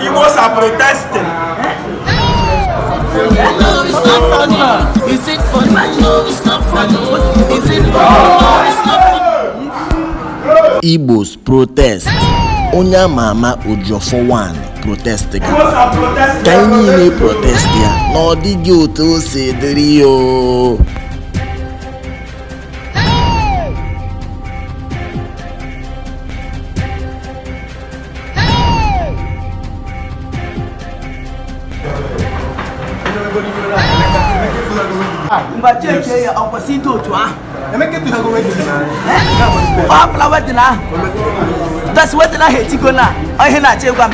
Igbos are protesting. Is it funny? No, it's not funny. Is it funny? No, it's not funny. Igbos protest. Onye ama ama Ojofo 1 protest ga. Ka anyị niile protest ya na ọ dịghị otu o si dịrị o ngwa chechie ya ọ kwesị ịdị otu ahụ ọ bụla wedding ahụ that's wedding ahụ etigo na ihe na-achọ ịgwa m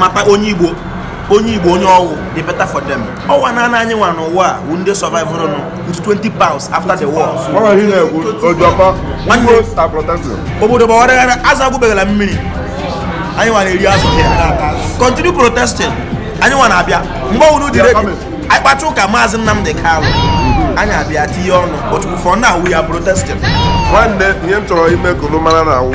mata onye igbo onye ọ wụ the better for them ọ wụ naanị anyị nwa n'ụwa a wụ ndị survive n'otu 20 pounds after the war obodo gbawara aghara azụ agwụbeghị na mmiri anyị nwa na-eri azụ continue protesting anyị nwa na-abịa mgbe unu dị ready anyị kpacha ụka maazị Nnamdi Kanu anyị abịa tinye ọnụ but for now we are protesting nwanne ihe m chọrọ ime ka unu mara na awụ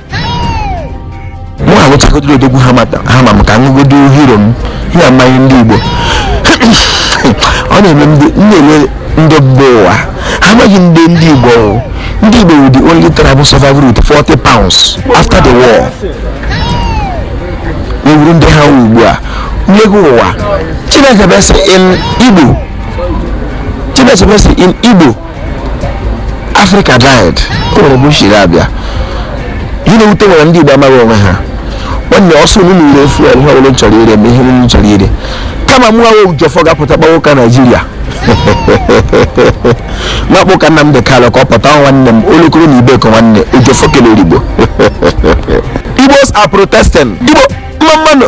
mụ aṅụchagodoro odogwu hammer m ka ṅụgodo hero m ha amaghị ndị igbo ọ na-eme m na-ele ndị mba ụwa ha amaghị ndị ndị igbo o. ndị igbo wụ the only tribe survive with 40 pounds after the war awụrụ ndị ha wụ ugbu a mmegbu ụwa chineke base in igbo chineke base in igbo afrịka died o nwere ebe o shiri abịa ihe na-ewute m wụ na ndị igbo amaghị onwe ha nwanne ọ sọ unu na-ere fuel ihe ọbụla unu chọrọ ire ma ihe unu chọrọ ire kama mụ awụ ojọfọ ga-apụta kpawa ụka naijiria m akpa ụka Nnamdi Kanu ka ọ pụta nwanne m olokoro na ibeku nwanne ojọfọ kelere igbo igbos are protesting igbo mma mma nụ